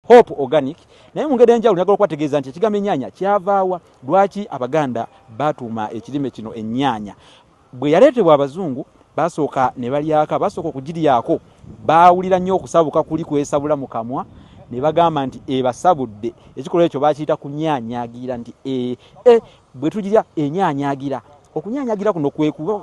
Hope Organic naye mu ngeri enjawulo njagala okubategeeza nti ekigambo ennyaanya kyavaawa lwaki abaganda baatuuma ekirime kino ennyaanya bwe yaleetebwa abazungu baasooka ne balyaka baasooka okugiryako baawulira nnyo okusabuka kuli kwesabula mu kamwa ne bagamba nti ebasabudde ekikolwa ekyo bakiyita kunyaanyagira nti ee e, bwe tugirya enyaanyagira okunyanyagira kuno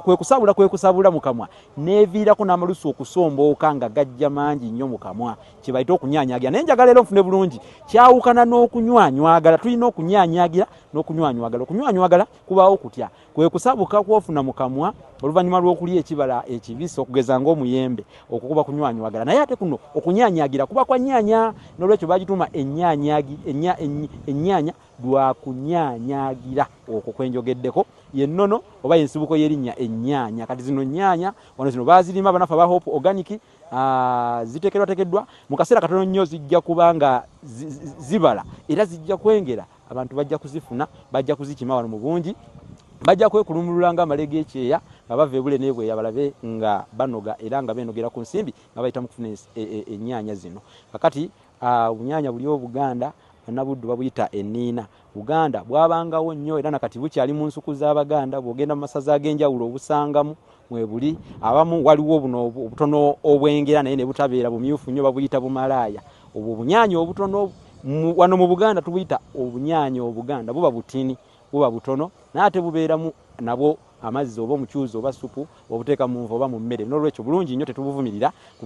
kwekusabula kwekusabula mukamwa neviirako n'amalusu okusombooka nga gajja mangi nnyo mukamwa kyebayita okunyanyagira naye njagala era nfune bulungi kyawukana n'okunywanywagala tulina okunyanyagira n'okunywanywagala okunywanywagala kubaawo kutya kwe kusabuka kwofuna mu kamwa oluvannyuma lw'okulya ekibala ekibisi okugeza ngaomuyembe okukuba kunywanywagala naye ate kuno okunyanyagira kuba kwa nyanya n'olwekyo bagituuma ennyanya lwa kunyanyagira okwo kwenjogeddeko yennono oba yensibuko y'erinnya ennyanya kati zino nnyanya wano zino bazirima banafe aba hope organic ziteekerwateekeddwa mu kaseera katono nnyo zijja kuba nga zibala era zijja kwengera abantu bajja kuzifuna bajja kuzikima wano mu bungi bajja kwekulumulula nga amale g'ekyeya nga bava ebule n'ebweya balabe nga banoga era nga beenogera ku nsimbi nga bayita mu kufuna ennyaanya e, e, zino kakati obunyaanya buli obuganda bannabuddu babuyita eniina Buganda bwabangawo nnyo era na kati bukyali mu nsuku z'Abaganda. Bw'ogenda mu masaza ag'enjawulo obusangamu mwebuli. Abamu waliwo buno obutono obwengera naye ne butabeera bumyufu nnyo babuyita bumalaaya. Obwo obunyaanya obutono wano mu Buganda tubuyita obunyaanya Obuganda. Buba butini, buba butono naye ate bubeeramu nabwo amazzi oba omucuuzi oba ssupu bw'obuteeka mu nva oba mu mmere. Noolwekyo bulungi nnyo tetubuvumirira kuba.